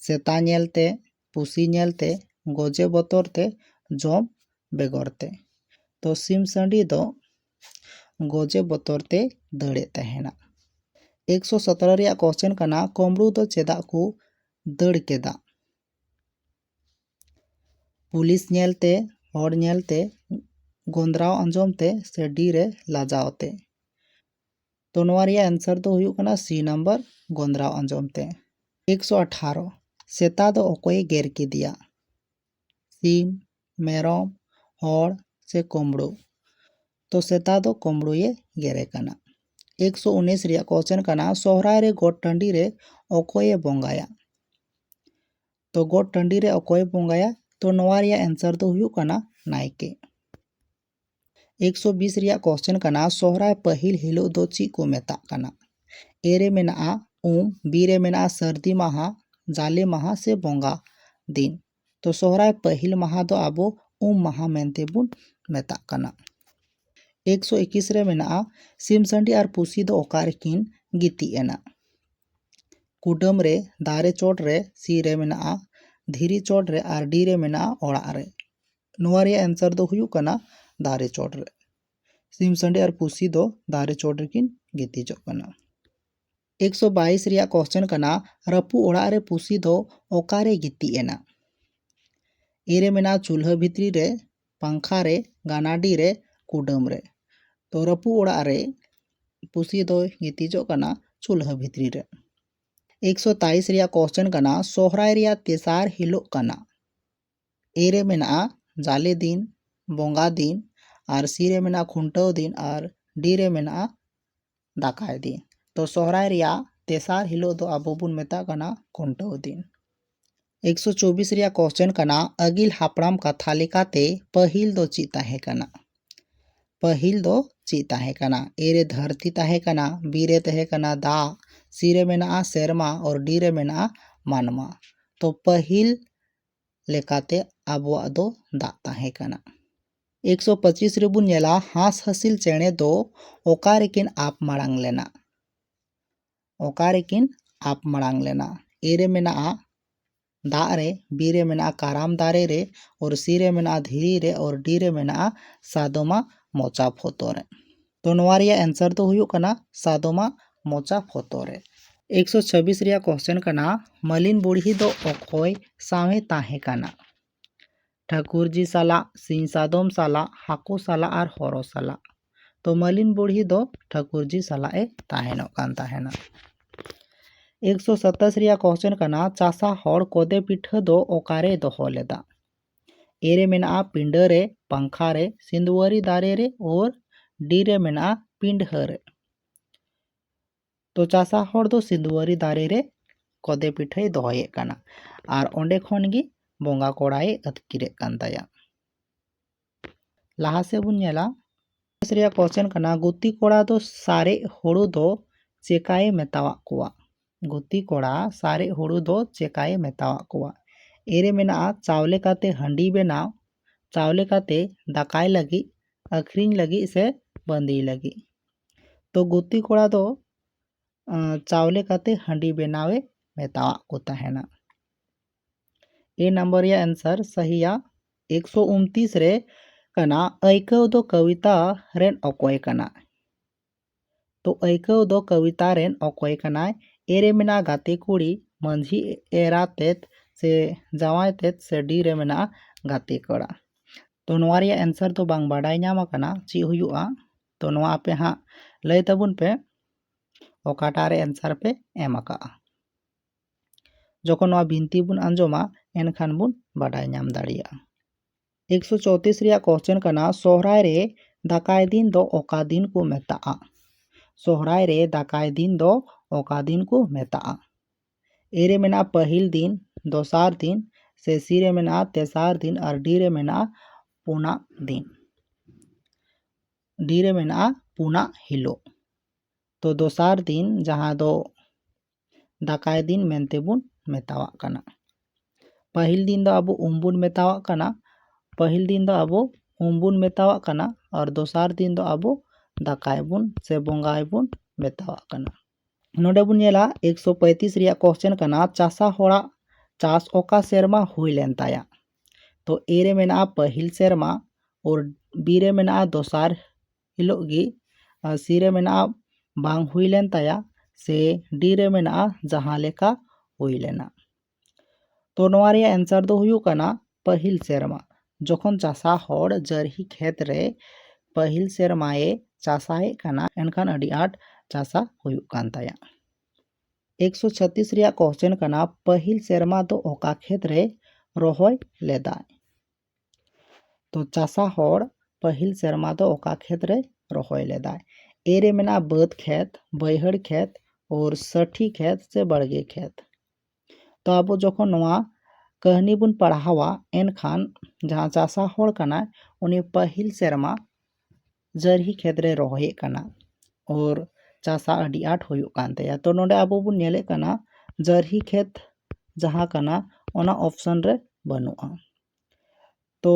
ᱥᱮᱛᱟ ᱧᱮᱞ ᱛᱮ ᱯᱩᱥᱤ ᱧᱮᱞ ᱛᱮ ᱜᱚᱡᱮ ᱵᱚᱛᱚᱨ ᱛᱮ ᱡᱚᱢ ᱵᱮᱜᱚᱨ ᱛᱮ ᱛᱚ ᱥᱤᱢ ᱥᱟᱺᱰᱤ ᱫᱚ ᱜᱚᱡᱮ ᱵᱚᱛᱚᱨ ᱛᱮ ᱫᱟᱹᱲᱮᱫ ᱛᱟᱦᱮᱱᱟ ᱮᱠᱥᱚ ᱥᱚᱛᱨᱚ ᱨᱮᱭᱟᱜ ᱠᱚᱥᱪᱮᱱ ᱠᱟᱱᱟ ᱠᱚᱢᱲᱩ ᱫᱚ ᱪᱮᱫᱟᱜ ᱠᱚ ᱫᱟᱹᱲ ᱠᱮᱫᱟ ᱯᱩᱞᱤᱥ ᱧᱮᱞ ᱛᱮ ᱦᱚᱲ ᱧᱮᱞ ᱛᱮ ᱜᱚᱸᱫᱽᱨᱟᱣ ᱟᱸᱡᱚᱢ ᱛᱮ ᱥᱮ ᱰᱤ ᱨᱮ ᱞᱟᱡᱟᱣ ᱛᱮ ᱛᱚ ᱱᱚᱣᱟ ᱨᱮᱭᱟᱜ ᱮᱱᱥᱟᱨ ᱫᱚ ᱦᱩᱭᱩᱜ ᱠᱟᱱᱟ ᱥᱤ ᱱᱟᱢᱵᱟᱨ ᱜᱚᱸᱫᱽᱨᱟᱣ ᱟᱸᱡᱚᱢ ᱛᱮ ᱮᱠᱥᱚ ᱟᱴᱷᱟᱨᱚ ᱥᱮᱛᱟ ᱫᱚ ᱚᱠᱚᱭᱮ ᱜᱮᱨ ᱠᱮᱫᱮᱭᱟ ᱥᱤᱢ ᱢᱮᱨᱚᱢ ᱦᱚᱲ ᱥᱮ ᱠᱳᱢᱵᱽᱲᱳ ᱛᱚ ᱥᱮᱛᱟ ᱫᱚ ᱠᱳᱢᱵᱽᱲᱳᱭᱮ ᱜᱮᱨᱮ ᱠᱟᱱᱟ ᱮᱠᱥᱚ ᱩᱱᱤᱥ ᱨᱮᱭᱟᱜ ᱠᱚᱥᱪᱮᱱ ᱠᱟᱱᱟ ᱥᱚᱦᱨᱟᱭ ᱨᱮ ᱜᱚᱴ ᱴᱟᱺᱰᱤ ᱨᱮ ᱚᱠᱚᱭᱮ ᱵᱚᱸᱜᱟᱭᱟ ᱛᱚ ᱜᱚᱴ ᱴᱟᱺᱰᱤ ᱨᱮ ᱚᱠᱚᱭ ᱵᱚᱸᱜᱟᱭᱟ ᱛᱚ ᱱᱚᱣᱟ ᱨᱮᱭᱟᱜ ᱮᱱᱥᱟᱨ ᱫᱚ ᱦᱩᱭᱩᱜ ᱠᱟᱱᱟ ᱱᱟᱭᱠᱮ ᱮᱠᱥᱚ ᱵᱤᱥ ᱨᱮᱭᱟᱜ ᱠᱚᱥᱪᱮᱱ ᱠᱟᱱᱟ ᱥᱚᱦᱨᱟᱭ ᱯᱟᱹᱦᱤᱞ ᱦᱤᱞᱳᱜ ᱫᱚ ᱪᱮᱫ ᱠᱚ ᱢᱮᱛᱟᱜ ᱠᱟᱱᱟ ᱮ ᱨᱮ ᱢᱮᱱᱟᱜᱼᱟ ᱩᱢ ᱵᱤ ᱨᱮ ᱢᱮᱱᱟᱜᱼᱟ ᱥᱟᱹᱨᱫᱤ ᱢᱟᱦᱟ ᱡᱟᱞᱮ ᱢᱟᱦᱟ ᱥᱮ ᱵᱚᱸᱜᱟ ᱫᱤᱱ ᱛᱚ ᱥᱚᱦᱨᱟᱭ ᱯᱟᱹᱦᱤᱞ ᱢᱟᱦᱟ ᱫᱚ ᱟᱵᱚ ᱩᱢ ᱢᱟᱦᱟ ᱢᱮᱱᱛᱮ ᱵᱚᱱ ᱢᱮᱛᱟᱜ ᱠᱟᱱᱟ ᱮᱠᱥᱚ ᱮᱠᱤᱥ ᱨᱮ ᱢᱮᱱᱟᱜᱼᱟ ᱥᱤᱢ ᱥᱟᱺᱰᱤ ᱟᱨ ᱯᱩᱥᱤ ᱫᱚ ᱚᱠᱟ ᱨᱮᱠᱤᱱ ᱜᱤᱛᱤᱡ ᱮᱱᱟ ᱠᱩᱰᱟᱹᱢ ᱨᱮ ᱫᱟᱨᱮ ᱪᱚᱴ ᱨᱮ ᱥᱤ ᱨᱮ ᱢᱮᱱᱟᱜᱼᱟ ᱫᱷᱤᱨᱤ ᱪᱚᱴ ᱨᱮ ᱟᱨ ᱰᱤ ᱨᱮ ᱢᱮᱱᱟᱜᱼᱟ ᱚᱲᱟᱜ ᱨᱮ ᱱᱚᱣᱟ ᱨᱮᱭᱟᱜ ᱮᱱᱥᱟᱨ ᱫᱚ ᱦᱩᱭᱩᱜ ᱠᱟᱱᱟ ᱫᱟᱨᱮ ᱪᱚᱴ ᱨᱮ ᱥᱤᱢ ᱥᱟᱺᱰᱤ ᱟᱨ ᱯᱩᱥᱤ ᱫᱚ ᱫᱟᱨᱮ ᱪᱚᱴ ᱨᱮᱠᱤᱱ ᱜᱤᱛᱤᱡᱚᱜ ᱠᱟᱱᱟ ᱮᱠᱥᱚ ᱵᱟᱭᱤᱥ ᱨᱮᱭᱟᱜ ᱠᱚᱥᱪᱮᱱ ᱠᱟᱱᱟ ᱨᱟᱹᱯᱩᱫ ᱚᱲᱟᱜ ᱨᱮ ᱯᱩᱥᱤ ᱫᱚ ᱚᱠᱟᱨᱮ ᱜᱤᱛᱤᱡ ᱮᱱᱟ ᱮ ᱨᱮ ᱢᱮᱱᱟᱜᱼᱟ ᱪᱩᱞᱦᱟᱹ ᱵᱷᱤᱛᱨᱤ ᱨᱮ ᱯᱟᱝᱠᱷᱟ ᱨᱮ ᱜᱟᱱᱟᱰᱤ ᱨᱮ ᱠᱩᱰᱟᱹᱢ ᱨᱮ ᱛᱚ ᱨᱟᱹᱯᱩᱫ ᱚᱲᱟᱜ ᱨᱮ ᱯᱩᱥᱤ ᱫᱚᱭ ᱜᱤᱛᱤᱡᱚᱜ ᱠᱟᱱᱟ ᱪᱩᱞᱦᱟᱹ ᱵᱷᱤᱛᱨᱤ ᱨᱮ ᱮᱠ ᱥᱚ ᱛᱟᱭᱤᱥ ᱨᱮᱭᱟᱜ ᱠᱚᱥᱪᱮᱱ ᱠᱟᱱᱟ ᱥᱚᱦᱨᱟᱭ ᱨᱮᱭᱟᱜ ᱛᱮᱥᱟᱨ ᱦᱤᱞᱳᱜ ᱠᱟᱱᱟ ᱮ ᱨᱮ ᱢᱮᱱᱟᱜᱼᱟ ᱡᱟᱞᱮ ᱫᱤᱱ ᱵᱚᱸᱜᱟ ᱫᱤᱱ ᱟᱨ ᱥᱤ ᱨᱮ ᱢᱮᱱᱟᱜᱼᱟ ᱠᱷᱩᱱᱴᱟᱹᱣ ᱫᱤᱱ ᱟᱨ ᱰᱤ ᱨᱮ ᱢᱮᱱᱟᱜᱼᱟ ᱫᱟᱠᱟᱭ ᱫᱤᱱ ᱛᱚ ᱥᱚᱦᱨᱟᱭ ᱨᱮᱭᱟᱜ ᱛᱮᱥᱟᱨ ᱦᱤᱞᱳᱜ ᱫᱚ ᱟᱵᱚ ᱵᱚᱱ ᱢᱮᱛᱟᱜ ᱠᱟᱱᱟ ᱠᱷᱩᱱᱴᱟᱹᱣ ᱫᱤᱱ ᱮᱠᱥᱚ ᱪᱚᱵᱵᱤᱥ ᱨᱮᱭᱟᱜ ᱠᱚᱥᱪᱮᱱ ᱠᱟᱱᱟ ᱟᱹᱜᱤᱞ ᱦᱟᱯᱲᱟᱢ ᱠᱟᱛᱷᱟ ᱞᱮᱠᱟᱛᱮ ᱯᱟᱹᱦᱤᱞ ᱫᱚ ᱪᱮᱫ ᱛᱟᱦᱮᱸ ᱠᱟᱱᱟ ᱯᱟᱹᱦᱤᱞ ᱫᱚ ᱪᱮᱫ ᱛᱟᱦᱮᱸ ᱠᱟᱱᱟ ᱮ ᱨᱮ ᱫᱷᱟᱹᱨᱛᱤ ᱛᱟᱦᱮᱸ ᱠᱟᱱᱟ ᱵᱤ ᱨᱮ ᱛᱟᱦᱮᱸ ᱠᱟᱱᱟ ᱫᱟᱜ ᱥᱤ ᱨᱮ ᱢᱮᱱᱟᱜᱼᱟ ᱥᱮᱨᱢᱟ ᱟᱨ ᱰᱤ ᱨᱮ ᱢᱮᱱᱟᱜᱼᱟ ᱢᱟᱱᱣᱟ ᱛᱚ ᱯᱟᱹᱦᱤᱞ ᱞᱮᱠᱟᱛᱮ ᱟᱵᱚᱣᱟᱜ ᱫᱚ ᱫᱟᱜ ᱛᱟᱦᱮᱸ ᱠᱟᱱᱟ ᱮᱠ ᱥᱚ ᱯᱚᱸᱪᱤᱥ ᱨᱮ ᱵᱚᱱ ᱧᱮᱞᱟ ᱦᱟᱸᱥ ᱦᱟᱹᱥᱤᱞ ᱪᱮᱬᱮ ᱫᱚ ᱚᱠᱟ ᱨᱮᱠᱤᱱ ᱟᱵ ᱢᱟᱲᱟᱝ ᱞᱮᱱᱟ ᱚᱠᱟ ᱨᱮᱠᱤᱱ ᱟᱵ ᱢᱟᱲᱟᱝ ᱞᱮᱱᱟ ᱮ ᱨᱮ ᱢᱮᱱᱟᱜᱼᱟ ᱫᱟᱜ ᱨᱮ ᱵᱤ ᱨᱮ ᱢᱮᱱᱟᱜᱼᱟ ᱠᱟᱨᱟᱢ ᱫᱟᱨᱮ ᱨᱮ ᱚᱨ ᱥᱤ ᱨᱮ ᱢᱮᱱᱟᱜᱼᱟ ᱫᱷᱤᱨᱤ ᱨᱮ ᱚᱨ ᱰᱤ ᱨᱮ ᱢᱮᱱᱟᱜᱼᱟ ᱥᱟᱫᱚᱢᱟ ᱢᱚᱪᱟ ᱯᱷᱚᱛᱚ ᱨᱮ ᱛᱚ ᱱᱚᱣᱟ ᱨᱮᱭᱟᱜ ᱮᱱᱥᱟᱨ ᱫᱚ ᱦᱩᱭᱩᱜ ᱠᱟᱱᱟ ᱥᱟᱫᱚᱢᱟ ᱢᱚᱪᱟ ᱯᱷᱚᱛᱚ ᱨᱮ ᱮᱠ ᱥᱚ ᱪᱷᱟᱵᱤᱥ ᱨᱮᱭᱟᱜ ᱠᱚᱥᱪᱮᱱ ᱠᱟᱱᱟ ᱢᱟᱹᱞᱤᱱ ᱵᱩᱲᱦᱤ ᱫᱚ ᱚᱠᱚᱭ ᱥᱟᱶᱮ ᱛᱟᱦᱮᱸ ᱠᱟᱱᱟ ᱴᱷᱟᱹᱠᱩᱨᱡᱤ ᱥᱟᱞᱟᱜ, ᱥᱤᱧ ᱥᱟᱫᱚᱢ ᱥᱟᱞᱟᱜ, ᱦᱟᱹᱠᱩ ᱥᱟᱞᱟᱜ ᱟᱨ ᱦᱚᱨᱚ ᱥᱟᱞᱟᱜ᱾ ᱛᱚ ᱢᱟᱹᱞᱤᱱ ᱵᱩᱲᱦᱤ ᱫᱚ ᱴᱷᱟᱹᱠᱩᱨᱡᱤ ᱥᱟᱞᱟᱜ ᱮ ᱛᱟᱦᱮᱱᱚᱜ ᱠᱟᱱ ᱛᱟᱦᱮᱱᱟ᱾ ᱮᱠ ᱥᱚ ᱥᱟᱛᱟᱥᱤ ᱨᱮᱭᱟᱜ ᱠᱚᱥᱪᱮᱱ ᱠᱟᱱᱟ ᱪᱟᱥᱟ ᱦᱚᱲ ᱠᱚᱫᱮ ᱯᱤᱴᱷᱟᱹ ᱫᱚ ᱚᱠᱟᱨᱮᱭ ᱫᱚᱦᱚ ᱞᱮᱫᱟ? ᱮ ᱨᱮ ᱢᱮᱱᱟᱜᱼᱟ ᱯᱤᱸᱰᱟᱹ ᱨᱮ, ᱯᱟᱝᱠᱷᱟ ᱨᱮ, ᱥᱤᱸᱫᱩᱣᱟᱹᱨᱤ ᱫᱟᱨᱮ ᱨᱮ ᱳᱨ ᱰᱤ ᱨᱮ ᱢᱮᱱᱟᱜᱼᱟ ᱯᱤᱸᱰᱷᱟᱹ ᱨᱮ᱾ ᱛᱚ ᱪᱟᱥᱟ ᱦᱚᱲ ᱫᱚ ᱥᱤᱫᱩᱣᱟᱹᱨᱤ ᱫᱟᱨᱮ ᱨᱮ ᱠᱚᱫᱮ ᱯᱤᱴᱷᱟᱹᱭ ᱫᱚᱦᱚᱭᱮᱫ ᱠᱟᱱᱟ ᱟᱨ ᱚᱸᱰᱮ ᱠᱷᱚᱱ ᱜᱮ ᱵᱚᱸᱜᱟ ᱠᱚᱲᱟᱭᱮ ᱟᱹᱛᱠᱤᱨᱮᱫ ᱠᱟᱱ ᱛᱟᱭᱟ ᱞᱟᱦᱟ ᱥᱮᱫ ᱵᱚᱱ ᱧᱮᱞᱟ ᱠᱮᱥ ᱨᱮᱭᱟᱜ ᱠᱚᱥᱪᱮᱱ ᱠᱟᱱᱟ ᱜᱩᱛᱤ ᱠᱚᱲᱟ ᱫᱚ ᱥᱟᱨᱮᱡ ᱦᱳᱲᱳ ᱫᱚ ᱪᱮᱠᱟᱭᱮ ᱢᱮᱛᱟᱣᱟᱜ ᱠᱚᱣᱟ ᱜᱩᱛᱤ ᱠᱚᱲᱟ ᱥᱟᱨᱮᱡ ᱦᱳᱲᱳ ᱫᱚ ᱪᱮᱠᱟᱭᱮ ᱢᱮᱛᱟᱣᱟᱜ ᱠᱚᱣᱟ ᱮ ᱨᱮ ᱢᱮᱱᱟᱜᱼᱟ ᱪᱟᱣᱞᱮ ᱠᱟᱛᱮ ᱦᱟᱺᱰᱤ ᱵᱮᱱᱟᱣ ᱪᱟᱣᱞᱮ ᱠᱟᱛᱮ ᱫᱟᱠᱟᱭ ᱞᱟᱹᱜᱤᱫ ᱟᱹᱠᱷᱨᱤᱧ ᱞᱟᱹᱜᱤᱫ ᱥᱮ ᱵᱟᱺᱫᱤᱭ ᱞᱟᱹᱜᱤᱫ ᱛᱚ ᱜᱩᱛᱤ ᱠᱚᱲᱟ ᱫᱚ ᱪᱟᱣᱞᱮ ᱠᱟᱛᱮ ᱦᱟᱺᱰᱤ ᱵᱮᱱᱟᱣᱮ ᱢᱮᱛᱟᱣᱟᱫ ᱠᱚ ᱛᱟᱦᱮᱱᱟ ᱮ ᱱᱟᱢᱵᱟᱨ ᱨᱮᱭᱟᱜ ᱮᱱᱥᱟᱨ ᱥᱟᱹᱦᱤᱭᱟ ᱮᱠᱥᱚ ᱩᱱᱛᱤᱥ ᱨᱮ ᱠᱟᱱᱟ ᱟᱹᱭᱠᱟᱹᱣ ᱫᱚ ᱠᱚᱵᱤᱛᱟ ᱨᱮᱱ ᱚᱠᱚᱭ ᱠᱟᱱᱟ ᱛᱚ ᱟᱹᱭᱠᱟᱹᱣ ᱫᱚ ᱠᱚᱵᱤᱛᱟ ᱨᱮᱱ ᱚᱠᱚᱭ ᱠᱟᱱᱟᱭ ᱮ ᱨᱮ ᱢᱮᱱᱟᱜᱼᱟ ᱜᱟᱛᱮ ᱠᱩᱲᱤ, ᱢᱟᱹᱡᱷᱤ ᱮᱨᱟ ᱛᱮᱫ ᱥᱮ ᱡᱟᱶᱟᱭ ᱛᱮᱫ ᱥᱮ ᱰᱤ ᱨᱮ ᱢᱮᱱᱟᱜᱼᱟ ᱜᱟᱛᱮ ᱠᱚᱲᱟ᱾ ᱛᱚ ᱱᱚᱣᱟ ᱨᱮᱭᱟᱜ ᱮᱱᱥᱟᱨ ᱫᱚ ᱵᱟᱝ ᱵᱟᱰᱟᱭ ᱧᱟᱢ ᱟᱠᱟᱱᱟ ᱪᱮᱫ ᱦᱩᱭᱩᱜᱼᱟ᱾ ᱛᱚ ᱱᱚᱣᱟ ᱟᱯᱮ ᱦᱟᱸᱜ ᱞᱟᱹᱭ ᱛᱟᱵᱚᱱ ᱯᱮ ᱚᱠᱟᱴᱟᱜ ᱨᱮ ᱮᱱᱥᱟᱨ ᱯᱮ ᱮᱢ ᱟᱠᱟᱫᱼᱟ᱾ ᱡᱚᱠᱷᱚᱱ ᱱᱚᱣᱟ ᱵᱤᱱᱛᱤ ᱵᱚᱱ ᱟᱸᱡᱚᱢᱟ ᱮᱱᱠᱷᱟᱱ ᱵᱚᱱ ᱵᱟᱰᱟᱭ ᱧᱟᱢ ᱫᱟᱲᱮᱭᱟᱜᱼᱟ᱾ ᱮᱠᱥᱚ ᱪᱳᱛᱨᱤᱥ ᱨᱮᱭᱟᱜ ᱠᱚᱥᱪᱮᱱ ᱠᱟᱱᱟ ᱥᱚᱦᱨᱟᱭ ᱨᱮ ᱫᱟᱠᱟᱭ ᱫᱤᱱ ᱫᱚ ᱚᱠᱟ ᱫᱤᱱ ᱠᱚ ᱢᱮᱛᱟᱜᱼᱟ ᱥᱚᱦᱨᱟᱭ ᱨᱮ ᱫᱟᱠᱟᱭ ᱫᱤᱱ ᱫᱚ ᱚᱠᱟ ᱫᱤᱱ ᱠᱚ ᱢᱮᱛᱟᱜᱼᱟ ᱮ ᱨᱮ ᱢᱮᱱᱟᱜᱼᱟ ᱯᱟᱹᱦᱤᱞ ᱫᱤᱱ ᱫᱚᱥᱟᱨ ᱫᱤᱱ ᱥᱮ ᱥᱤ ᱨᱮ ᱢᱮᱱᱟᱜᱼᱟ ᱛᱮᱥᱟᱨ ᱫᱤᱱ ᱟᱨ ᱰᱤ ᱨᱮ ᱢᱮᱱᱟᱜᱼᱟ ᱯᱩᱱᱟᱜ ᱫᱤᱱ ᱰᱤ ᱨᱮ ᱢᱮᱱᱟᱜᱼᱟ ᱯᱩᱱᱟᱜ ᱦᱤᱞᱳᱜ ᱛᱚ ᱫᱚᱥᱟᱨ ᱫᱤᱱ ᱡᱟᱦᱟᱸ ᱫᱚ ᱫᱟᱠᱟᱭ ᱫᱤᱱ ᱢᱮᱱᱛᱮ ᱵᱚᱱ ᱢᱮᱛᱟᱣᱟᱜ ᱠᱟᱱᱟ ᱯᱟᱹᱦᱤᱞ ᱫᱤᱱ ᱫᱚ ᱟᱵᱚ ᱩᱢ ᱵᱚᱱ ᱢᱮᱛᱟᱣᱟᱜ ᱠᱟᱱᱟ ᱯᱟᱹᱦᱤᱞ ᱫᱤᱱ ᱫᱚ ᱟᱵᱚ ᱩᱢ ᱵᱚᱱ ᱢᱮᱛᱟᱣᱟᱜ ᱠᱟᱱᱟ ᱟᱨ ᱫᱚᱥᱟᱨ ᱫᱤᱱ ᱫᱚ ᱟᱵᱚ ᱫᱟᱠᱟᱭ ᱵᱚᱱ ᱥᱮ ᱵᱚᱸᱜᱟᱭ ᱵᱚᱱ ᱢᱮᱛᱟᱣᱟᱜ ᱠᱟᱱᱟ ᱱᱚᱰᱮ ᱵᱚᱱ ᱧᱮᱞᱟ ᱮᱠᱥᱚ ᱯᱚᱸᱭᱛᱨᱤᱥ ᱨᱮᱭᱟᱜ ᱠᱚᱥᱪᱮᱱ ᱠᱟᱱᱟ ᱪᱟᱥᱟ ᱦᱚᱲᱟᱜ ᱪᱟᱥ ᱚᱠᱟ ᱥᱮᱨᱢᱟ ᱦᱩᱭ ᱞᱮᱱ ᱛᱟᱭᱟ ᱛᱚ ᱮ ᱨᱮ ᱢᱮᱱᱟᱜᱼᱟ ᱯᱟᱹᱦᱤᱞ ᱥᱮᱨᱢᱟ ᱟᱨ ᱵᱤ ᱨᱮ ᱢᱮᱱᱟᱜᱼᱟ ᱫᱚᱥᱟᱨ ᱦᱤᱞᱳᱜ ᱜᱮ ᱥᱤ ᱨᱮ ᱢᱮᱱᱟᱜᱼᱟ ᱵᱟᱝ ᱦᱩᱭ ᱞᱮᱱ ᱛᱟᱭᱟ ᱥᱮ ᱰᱤ ᱨᱮ ᱢᱮᱱᱟᱜᱼᱟ ᱡᱟᱦᱟᱸ ᱞᱮᱠᱟ ᱦᱩᱭ ᱞᱮᱱᱟ ᱛᱚ ᱱᱚᱣᱟ ᱨᱮᱭᱟᱜ ᱮᱱᱥᱟᱨ ᱫᱚ ᱦᱩᱭᱩᱜ ᱠᱟᱱᱟ ᱯᱟᱹᱦᱤᱞ ᱥᱮᱨᱢᱟ ᱡᱚᱠᱷᱚᱱ ᱪᱟᱥᱟ ᱦᱚᱲ ᱡᱟᱹᱨᱦᱤ ᱠᱷᱮᱛ ᱨᱮ ᱯᱟᱹᱦᱤᱞ ᱥᱮᱨᱢᱟᱭᱮ ᱪᱟᱥᱟᱭᱮᱫ ᱠᱟᱱᱟ ᱮᱱᱠᱷᱟᱱ ᱟᱹᱰᱤ ᱟᱸᱴ ᱪᱟᱥᱟ ᱦᱩᱭᱩᱜ ᱠᱟᱱ ᱛᱟᱭᱟ ᱮᱠᱥᱚ ᱪᱷᱟᱛᱤᱥ ᱨᱮᱭᱟᱜ ᱠᱚᱥᱪᱮᱱ ᱠᱟᱱᱟ ᱯᱟᱹᱦᱤᱞ ᱥᱮᱨᱢᱟ ᱫᱚ ᱚᱠᱟ ᱠᱷᱮᱛ ᱨᱮ ᱨᱚᱦᱚᱭ ᱞᱮᱫᱟᱭ ᱛᱚ ᱪᱟᱥᱟ ᱦᱚᱲ ᱯᱟᱹᱦᱤᱞ ᱥᱮᱨᱢᱟ ᱫᱚ ᱚᱠᱟ ᱠᱷᱮᱛ ᱨᱮᱭ ᱨᱚᱦᱚᱭ ᱞᱮᱫᱟ ᱮ ᱨᱮ ᱢᱮᱱᱟᱜᱼᱟ ᱵᱟᱹᱫᱽ ᱠᱷᱮᱛ ᱵᱟᱹᱭᱦᱟᱹᱲ ᱠᱷᱮᱛ ᱳᱨ ᱥᱟᱹᱴᱷᱤ ᱠᱷᱮᱛ ᱥᱮ ᱵᱟᱲᱜᱮ ᱠᱷᱮᱛ ᱛᱚ ᱟᱵᱚ ᱡᱚᱠᱷᱚᱱ ᱱᱚᱣᱟ ᱠᱟᱹᱦᱱᱤ ᱵᱚᱱ ᱯᱟᱲᱦᱟᱣᱟ ᱮᱱᱠᱷᱟᱱ ᱡᱟᱦᱟᱸ ᱪᱟᱥᱟ ᱦᱚᱲ ᱠᱟᱱᱟᱭ ᱩᱱᱤ ᱯᱟᱹᱦᱤᱞ ᱥᱮᱨᱢᱟ ᱡᱟᱹᱨᱦᱤ ᱠᱷᱮᱛ ᱨᱮ ᱨᱚᱦᱚᱭᱮᱫ ᱠᱟᱱᱟ ᱚᱨ ᱪᱟᱥᱟᱜ ᱟᱹᱰᱤ ᱟᱸᱴ ᱦᱩᱭᱩᱜ ᱠᱟᱱ ᱛᱟᱭᱟ ᱛᱚ ᱱᱚᱸᱰᱮ ᱟᱵᱚ ᱵᱚᱱ ᱧᱮᱞᱮᱫ ᱠᱟᱱᱟ ᱡᱟᱹᱨᱦᱤ ᱠᱷᱮᱛ ᱡᱟᱦᱟᱸ ᱠᱟᱱᱟ ᱚᱱᱟ ᱚᱯᱷᱥᱮᱱ ᱨᱮ ᱵᱟᱹᱱᱩᱜᱼᱟ ᱛᱚ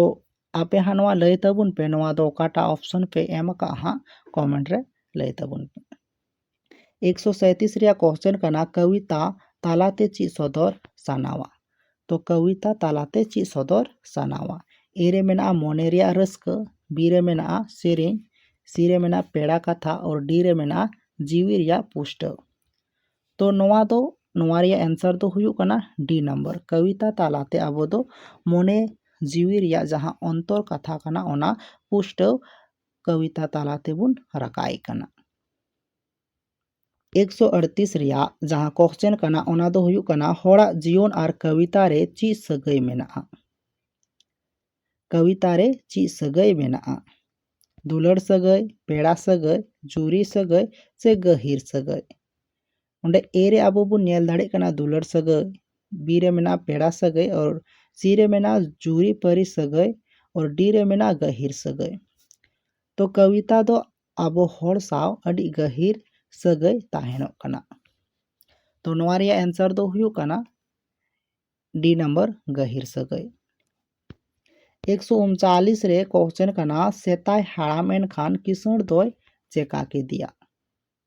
ᱟᱯᱮ ᱦᱟᱸᱜ ᱱᱚᱣᱟ ᱞᱟᱹᱭ ᱛᱟᱵᱚᱱ ᱯᱮ ᱱᱚᱣᱟ ᱫᱚ ᱚᱠᱟᱴᱟᱜ ᱚᱯᱷᱥᱮᱱ ᱯᱮ ᱮᱢ ᱟᱠᱟᱫᱼᱟ ᱦᱟᱸᱜ ᱠᱚᱢᱮᱱᱴ ᱨᱮ ᱞᱟᱹᱭ ᱛᱟᱵᱚᱱ ᱯᱮ ᱮᱠᱥᱚ ᱥᱟᱸᱭᱛᱨᱤᱥ ᱨᱮᱭᱟᱜ ᱠᱚᱥᱪᱮᱱ ᱠᱟᱱᱟ ᱠᱟᱣᱤᱛᱟ ᱛᱟᱞᱟᱛᱮ ᱪᱮᱫ ᱥᱚᱫᱚᱨ ᱥᱟᱱᱟᱣᱟ ᱛᱚ ᱠᱟᱣᱤᱛᱟ ᱛᱟᱞᱟᱛᱮ ᱪᱮᱫ ᱥᱚᱫᱚᱨ ᱥᱟᱱᱟᱣᱟ ᱮ ᱨᱮ ᱢᱮᱱᱟᱜᱼᱟ ᱢᱚᱱᱮ ᱨᱮᱭᱟᱜ ᱨᱟᱹᱥᱠᱟᱹ ᱵᱤ ᱨᱮ ᱢᱮᱱᱟᱜᱼᱟ ᱥᱮᱨᱮᱧ ᱥᱤ ᱨᱮ ᱢᱮᱱᱟᱜᱼᱟ ᱯᱮᱲᱟ ᱠᱟᱛᱷᱟ ᱚᱨ ᱰᱤ ᱨᱮ ᱢᱮᱱᱟᱜᱼᱟ ᱡᱤᱣᱤ ᱨᱮᱭᱟᱜ ᱯᱩᱥᱴᱟᱹᱣ ᱛᱚ ᱱᱚᱣᱟ ᱫᱚ ᱱᱚᱣᱟ ᱨᱮᱭᱟᱜ ᱮᱱᱥᱟᱨ ᱫᱚ ᱦᱩᱭᱩᱜ ᱠᱟᱱᱟ ᱰᱤ ᱱᱟᱢᱵᱟᱨ ᱠᱟᱣᱤᱛᱟ ᱛᱟᱞᱟᱛᱮ ᱟᱵᱚ ᱫᱚ ᱢᱚᱱᱮ ᱡᱤᱣᱤ ᱨᱮᱭᱟᱜ ᱡᱟᱦᱟᱸ ᱚᱱᱛᱚᱨ ᱠᱟᱛᱷᱟ ᱠᱟᱱᱟ ᱚᱱᱟ ᱯᱩᱥᱴᱟᱹᱣ ᱠᱟᱣᱤᱛᱟ ᱛᱟᱞᱟ ᱛᱮᱵᱚᱱ ᱨᱟᱠᱟᱵ ᱮ ᱠᱟᱱᱟ ᱮᱠᱥᱚ ᱟᱹᱲᱛᱤᱥ ᱨᱮᱭᱟᱜ ᱡᱟᱦᱟᱸ ᱠᱚᱥᱪᱮᱱ ᱠᱟᱱᱟ ᱚᱱᱟ ᱫᱚ ᱦᱩᱭᱩᱜ ᱠᱟᱱᱟ ᱦᱚᱲᱟᱜ ᱡᱤᱭᱚᱱ ᱟᱨ ᱠᱟᱣᱤᱛᱟ ᱨᱮ ᱪᱮᱫ ᱥᱟᱹᱜᱟᱹᱭ ᱢᱮᱱᱟᱜᱼᱟ ᱠᱟᱣᱤᱛᱟ ᱨᱮ ᱪᱮᱫ ᱥᱟᱹᱜᱟᱹᱭ ᱢᱮᱱᱟᱜᱼᱟ ᱫᱩᱞᱟᱹᱲ ᱥᱟᱹᱜᱟᱹᱭ ᱯᱮᱲᱟ ᱥᱟᱹᱜᱟᱹᱭ ᱡᱩᱨᱤ ᱥᱟᱹᱜᱟᱹᱭ ᱥᱮ ᱜᱟᱹᱦᱤᱨ ᱥᱟᱹᱜᱟᱹᱭ ᱚᱸᱰᱮ ᱮ ᱨᱮ ᱟᱵᱚ ᱵᱚᱱ ᱧᱮᱞ ᱫᱟᱲᱮᱭᱟᱜ ᱠᱟᱱᱟ ᱫᱩᱞᱟᱹᱲ ᱥᱟᱹᱜᱟᱹᱭ ᱵᱤ ᱨᱮ ᱢᱮᱱᱟᱜᱼᱟ ᱯᱮᱲᱟ ᱥᱟᱹᱜᱟᱹᱭ ᱟᱨ ᱥᱤ ᱨᱮ ᱢᱮᱱᱟᱜᱼᱟ ᱡᱩᱨᱤ ᱯᱟᱹᱨᱤ ᱥᱟᱹᱜᱟᱹᱭ ᱟᱨ ᱰᱤ ᱨᱮ ᱢᱮᱱᱟᱜᱼᱟ ᱜᱟᱹᱦᱤᱨ ᱥᱟᱹᱜᱟᱹᱭ ᱛᱚ ᱠᱚᱵᱤᱛᱟ ᱫᱚ ᱟᱵᱚ ᱦᱚᱲ ᱥᱟᱶ ᱟᱹᱰᱤ ᱜᱟᱹᱦᱤᱨ ᱥᱟᱹᱜᱟᱹᱭ ᱛᱟᱦᱮᱱᱚᱜ ᱠᱟᱱᱟ ᱛᱚ ᱱᱚᱣᱟ ᱨᱮᱭᱟᱜ ᱮᱱᱥᱟᱨ ᱫᱚ ᱦᱩᱭᱩᱜ ᱠᱟᱱᱟ ᱰᱤ ᱱᱟᱢᱵᱟᱨ ᱜᱟᱹᱦᱤᱨ ᱥᱟᱹᱜᱟᱹᱭ ᱮᱠᱥᱚ ᱩᱱᱪᱟᱞᱤᱥ ᱨᱮ ᱠᱚᱥᱪᱮᱱ ᱠᱟᱱᱟ ᱥᱮᱛᱟᱭ ᱦᱟᱲᱟᱢ ᱮᱱᱠᱷᱟᱱ ᱠᱤᱥᱟᱹᱬ ᱫᱚᱭ ᱪᱮᱠᱟ ᱠᱮᱫᱮᱭᱟ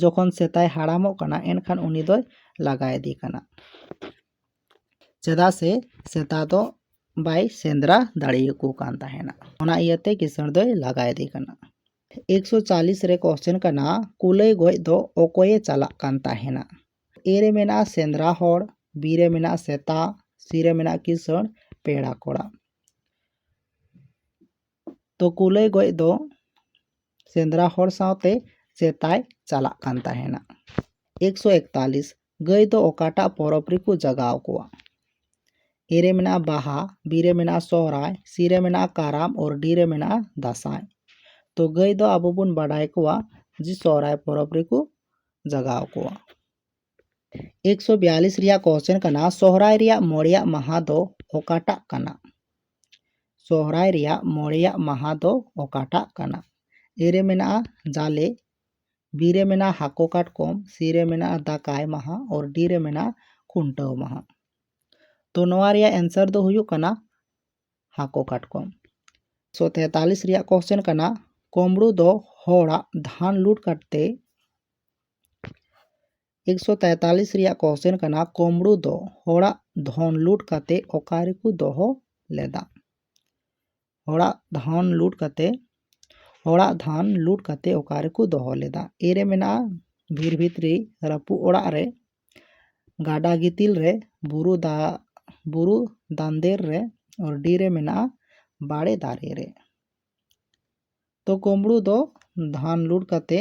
ᱡᱚᱠᱷᱚᱱ ᱥᱮᱛᱟᱭ ᱦᱟᱲᱟᱢᱚᱜ ᱠᱟᱱᱟ ᱮᱱᱠᱷᱟᱱ ᱩᱱᱤ ᱫᱚᱭ ᱞᱟᱜᱟ ᱤᱫᱤ ᱠᱟᱱᱟ ᱪᱮᱫᱟᱜ ᱥᱮ ᱥᱮᱛᱟ ᱫᱚ ᱵᱟᱭ ᱥᱮᱸᱫᱽᱨᱟ ᱫᱟᱲᱮᱭᱟᱠᱚ ᱠᱟᱱ ᱛᱟᱦᱮᱱᱟ ᱚᱱᱟ ᱤᱭᱟᱹᱛᱮ ᱠᱤᱥᱟᱹᱬ ᱫᱚᱭ ᱞᱟᱜᱟ ᱤᱫᱤ ᱠᱟᱱᱟ ᱮᱠᱥᱚ ᱪᱟᱞᱤᱥ ᱨᱮ ᱠᱚᱥᱪᱮᱱ ᱠᱟᱱᱟ ᱠᱩᱞᱟᱹᱭ ᱜᱚᱡ ᱫᱚ ᱚᱠᱚᱭᱮ ᱪᱟᱞᱟᱜ ᱠᱟᱱ ᱛᱟᱦᱮᱱᱟ ᱮ ᱨᱮ ᱢᱮᱱᱟᱜᱼᱟ ᱥᱮᱸᱫᱽᱨᱟ ᱦᱚᱲ ᱵᱤ ᱨᱮ ᱢᱮᱱᱟᱜᱼᱟ ᱥᱮᱛᱟ ᱥᱤ ᱨᱮ ᱢᱮᱱᱟᱜᱼᱟ ᱠᱤᱥᱟᱹᱬ ᱯᱮᱲᱟ ᱠᱚᱲᱟ ᱛᱚ ᱠᱩᱞᱟᱹᱭ ᱜᱚᱡ ᱫᱚ ᱥᱮᱸᱫᱽᱨᱟ ᱦᱚᱲ ᱥᱟᱶᱛᱮ ᱥᱮᱛᱟᱭ ᱪᱟᱞᱟᱜ ᱠᱟᱱ ᱛᱟᱦᱮᱱᱟ ᱮᱠᱥᱚ ᱮᱠᱛᱟᱞᱤᱥ ᱜᱟᱹᱭ ᱫᱚ ᱚᱠᱟᱴᱟᱜ ᱯᱚᱨᱚᱵᱽ ᱨᱮᱠᱚ ᱡᱟᱜᱟᱣ ᱠᱚᱣᱟ ᱮ ᱨᱮ ᱢᱮᱱᱟᱜᱼᱟ ᱵᱟᱦᱟ ᱵᱤ ᱨᱮ ᱢᱮᱱᱟᱜᱼᱟ ᱥᱚᱦᱨᱟᱭ ᱥᱤ ᱨᱮ ᱢᱮᱱᱟᱜᱼᱟ ᱠᱟᱨᱟᱢ ᱚᱨ ᱰᱤ ᱨᱮ ᱢᱮᱱᱟᱜᱼᱟ ᱫᱟᱸᱥᱟᱭ ᱛᱚ ᱜᱟᱹᱭ ᱫᱚ ᱟᱵᱚ ᱵᱚᱱ ᱵᱟᱰᱟᱭ ᱠᱚᱣᱟ ᱡᱮ ᱥᱚᱦᱨᱟᱭ ᱯᱚᱨᱚᱵᱽ ᱨᱮᱠᱚ ᱡᱟᱜᱟᱣ ᱠᱚᱣᱟ ᱮᱠᱥᱚ ᱵᱤᱭᱟᱞᱤᱥ ᱨᱮᱭᱟᱜ ᱠᱚᱥᱪᱮᱱ ᱠᱟᱱᱟ ᱥᱚᱦᱨᱟᱭ ᱨᱮᱭᱟᱜ ᱢᱚᱬᱮᱭᱟᱜ ᱢᱟᱦᱟ ᱫᱚ ᱚᱠᱟᱴᱟᱜ ᱠᱟᱱᱟ ᱥᱚᱦᱨᱟᱭ ᱨᱮᱭᱟᱜ ᱢᱚᱬᱮᱭᱟᱜ ᱢᱟᱦᱟ ᱫᱚ ᱚᱠᱟᱴᱟᱜ ᱠᱟᱱᱟ ᱮ ᱨᱮ ᱢᱮᱱᱟᱜᱼᱟ ᱡᱟᱞᱮ ᱵᱤ ᱨᱮ ᱢᱮᱱᱟᱜᱼᱟ ᱦᱟᱹᱠᱩ ᱠᱟᱴᱠᱚᱢ ᱥᱤ ᱨᱮ ᱢᱮᱱᱟᱜᱼᱟ ᱫᱟᱠᱟᱭ ᱢᱟᱦᱟ ᱚᱨ ᱰᱤ ᱨᱮ ᱢᱮᱱᱟᱜᱼᱟ ᱠᱷᱩᱱᱴᱟᱹᱣ ᱢᱟᱦᱟ ᱛᱚ ᱱᱚᱣᱟ ᱨᱮᱭᱟᱜ ᱮᱱᱥᱟᱨ ᱫᱚ ᱦᱩᱭᱩᱜ ᱠᱟᱱᱟ ᱦᱟᱹᱠᱩ ᱠᱟᱴᱠᱚᱢ ᱥᱚ ᱛᱮᱛᱟᱞᱤᱥ ᱨᱮᱭᱟᱜ ᱠᱚᱥᱪᱮᱱ ᱠᱟᱱᱟ ᱠᱚᱢᱲᱩ ᱫᱚ ᱦᱚᱲᱟᱜ ᱫᱷᱟᱱ ᱞᱩᱴ ᱠᱟᱛᱮ ᱮᱠᱥᱚ ᱛᱮᱛᱟᱞᱤᱥ ᱨᱮᱭᱟᱜ ᱠᱚᱥᱪᱮᱱ ᱠᱟᱱᱟ ᱠᱳᱢᱲᱳ ᱫᱚ ᱦᱚᱲᱟᱜ ᱫᱷᱚᱱ ᱞᱩᱴ ᱠᱟᱛᱮ ᱚᱠᱟ ᱨᱮᱠᱚ ᱫᱚᱦᱚ ᱞᱮᱫᱟ ᱦᱚᱲᱟᱜ ᱫᱷᱚᱱ ᱞᱩᱴ ᱠᱟᱛᱮ ᱦᱚᱲᱟᱜ ᱫᱷᱟᱱ ᱞᱩᱴ ᱠᱟᱛᱮ ᱚᱠᱟ ᱨᱮᱠᱚ ᱫᱚᱦᱚ ᱞᱮᱫᱟ ᱮ ᱨᱮ ᱢᱮᱱᱟᱜᱼᱟ ᱵᱷᱤᱨ ᱵᱷᱤᱛᱨᱤ ᱨᱟᱹᱯᱩᱫ ᱚᱲᱟᱜ ᱨᱮ ᱜᱟᱰᱟ ᱜᱤᱛᱤᱞ ᱨᱮ ᱵᱩᱨᱩ ᱫᱟ ᱵᱩᱨᱩ ᱫᱟᱱᱫᱮᱨ ᱨᱮ ᱟᱨ ᱰᱤ ᱨᱮ ᱢᱮᱱᱟᱜᱼᱟ ᱵᱟᱲᱮ ᱫᱟᱨᱮ ᱨᱮ ᱛᱚ ᱠᱩᱢᱵᱽᱲᱩ ᱫᱚ ᱫᱷᱟᱱ ᱞᱩᱴ ᱠᱟᱛᱮ